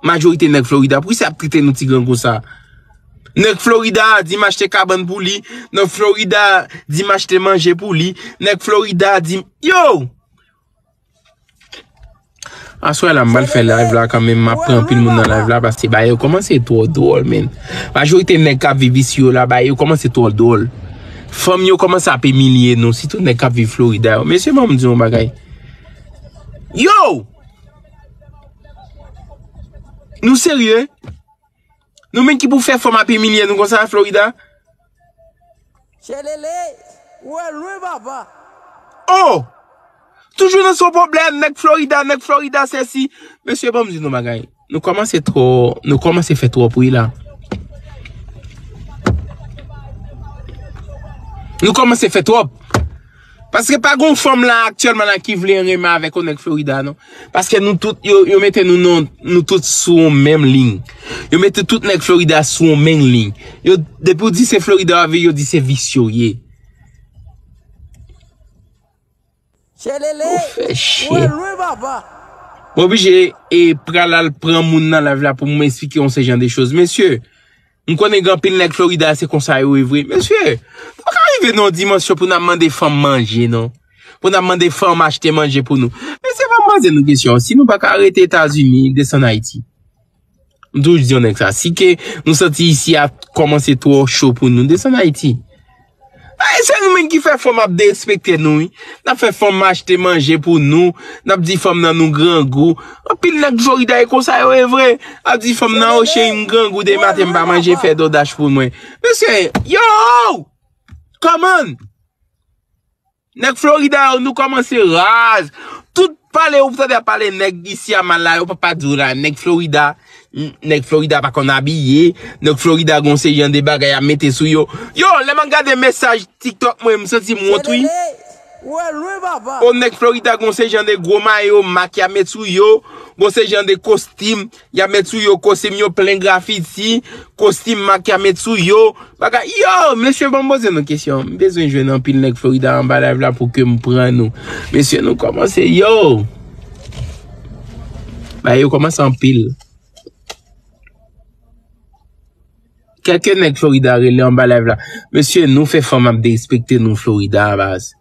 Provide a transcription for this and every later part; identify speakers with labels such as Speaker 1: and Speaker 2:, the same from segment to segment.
Speaker 1: Majorite nèg Florida pou kisa yap trete nou ti grangou sa. Nèg Florida di m achte kabann pou li, nèg Florida di m achte manje pou li, nèg Florida di m Yow! Aswè la m pral fè live la kanmenm m ap pran anpil moun nan live la paske bagay yo kòmanse twò dwòl menn. Majorite nèg kap viv isi yo la bagay yo kòmanse twò dwòl. Fanm yo kòmanse ap imilye nou sitou nèg kap viv Florida yo. Mesye banm di yon bagay. Yow! Nou serye? Nou menm ki pou fè fanm ap imilye nou konsa Florida? Tchelele! Ou al lwen papa! Oh! Toujou nan son pwoblèm, nèg Florida, nèg Florida sè si. Mesye banm di nou bagay, nou kòmanse twò, nou kòmanse fè twò bri la. Nou kòmanse fè twòp. Paske pa gon fanm la aktyèlman la ki vle renmen avèk yon nèg Florida non. Paske nou tout, yo mete nou non, nou tout sou yon menm liy. Yo mete tout nèg Florida sou yon menm liy. Yo, depi ou di se Florida wap viv, yo di se visye ou ye. Tchelele! Ou fè chien. Ou al lwen papa. Mwen oblije e pral al pran moun nan live la pou m esplike yon se jan de choz mesye. M konnen gen anpil nèg Florida se konsa yo ye vre. Mesye, nou pa ka rive nan yon dimansyon pou n ap mande fanm manje non. Pou n ap mande fanm achte manje pou nou. Mesye fò m poze nou kesyon, si nou pa ka rete Etazini, desann Ayiti. M toujou di yon nèg sa, si ke nou santi isi a kòmanse twò cho pou nou, desann Ayiti. Ayy se nou menm ki fè fanm ap derespekte nou wi, nap fè fanm achte manje pou nou, nap di fanm nan nou grangou, anpil nèg florida e konsa yo ye vre, ap di fanm nan o cheri m grangou depi maten m pa manje fè dodaj pou mwen, mesye yow! Kòman! Nèg Florida yo nou kòmanse raz. Tout pale ou tande ap pale nèg isi a mal la yo pap pa diw la nèg Florida nèg Florida pa konn abiye nèg Florida gon seri an de bagay ya mete sou yo. Yo lè map gade mesaj tiktok mwen m santi m wont wi. Oh nèg Florida gon seri jan de gwo mayo mak ya met sou yo gon seri jan de kostim Yap met sou yo kostim yo plen grafiti, kostim mak yap met sou yo, bagay yo! Mesye banm poze nou kesyon, m bezwen jwenn anpil nèg Florida anba live la pou kem pran nou. Mesye nou komanse yo! Bagay yo komanse anpil. Kèlke nèg Florida rele anba live la. Mesye nou fè fanm ap derespekte nou Florida a baz.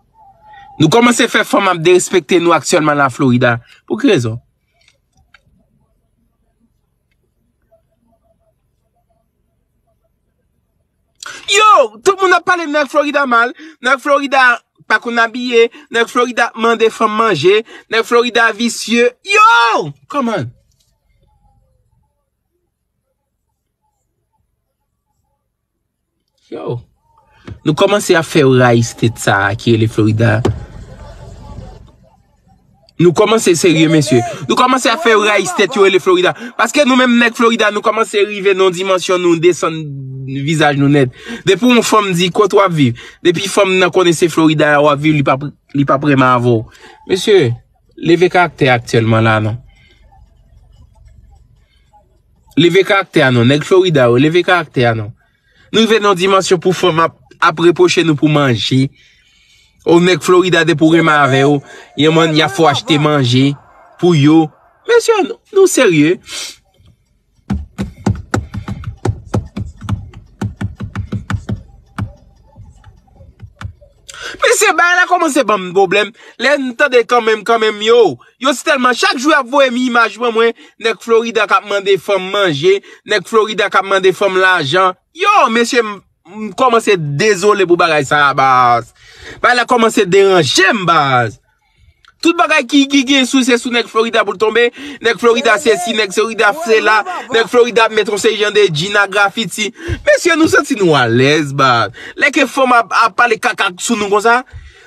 Speaker 1: Nou komanse fè fanm ap derespekte nou aktyèlman la Florida. Pou ki rezon? Yo, tout moun ap pale nèg Florida mal, nèg Florida pa konn abiye, nèg Florida ap mande fanm manje, nèg Florida visye, yo! Come on! Yow, nou komanse ap fè yo rayi state sa a ki rele Florida. Nou komanse serye mesye. Nou komanse ap fè yo rayi state yo rele Florida. Paske nou menm nèg Florida nou komanse rive nan yon dimansyon nou desann vizaj nou nèt. Depi yon fanm di kot wap viv. Depi fanm nan konnen se Florida a wap viv li pap renmen avè w. Mesye, leve karaktè aktyèlman la non. Leve karaktè a non. Nèg Florida yo, leve karaktè a non. Nou rive nan yon dimansyon pou fanm ap, ap repwoche nou pou manje. Ou nèg Florida depi ou renmen avè yo, yon mòn y ap fè w achte manje pou yo. Mesye, nou serye? Mesye bagay la komanse banm pwoblèm, lèm tande kanmenm kanmenm yo, yo si tèlman chak jou yap voyem imaj pou mwen, nèg Florida kap mande fanm manje, nèg Florida kap mande fanm lajan, yo mesye m komanse dezole pou bagay sa baz, bagay la komanse deranjem baz. Tout bagay ki gen sou se sou nèg Florida pou l tonbe, nèg Florida se si, nèg Florida se la, nèg Florida met yon seri jan de djinn a grafiti. Mesye nou santi nou alèz ba, lè ke fanm ap pale kaka sou nou konsa,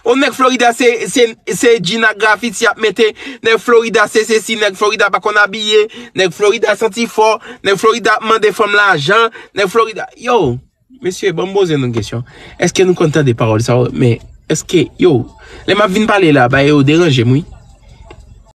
Speaker 1: o nèg Florida se djinn a grafiti y ap mete, nèg Florida se se si, nèg Florida pa konn abiye, nèg Florida santi fò, nèg Florida ap mande fanm lajan, nèg Florida, yow! Mesye banm poze nou kesyon eske nou konn tande pawòl sa yo men eske yo lè map vin pale la bagay yo deranjem wi.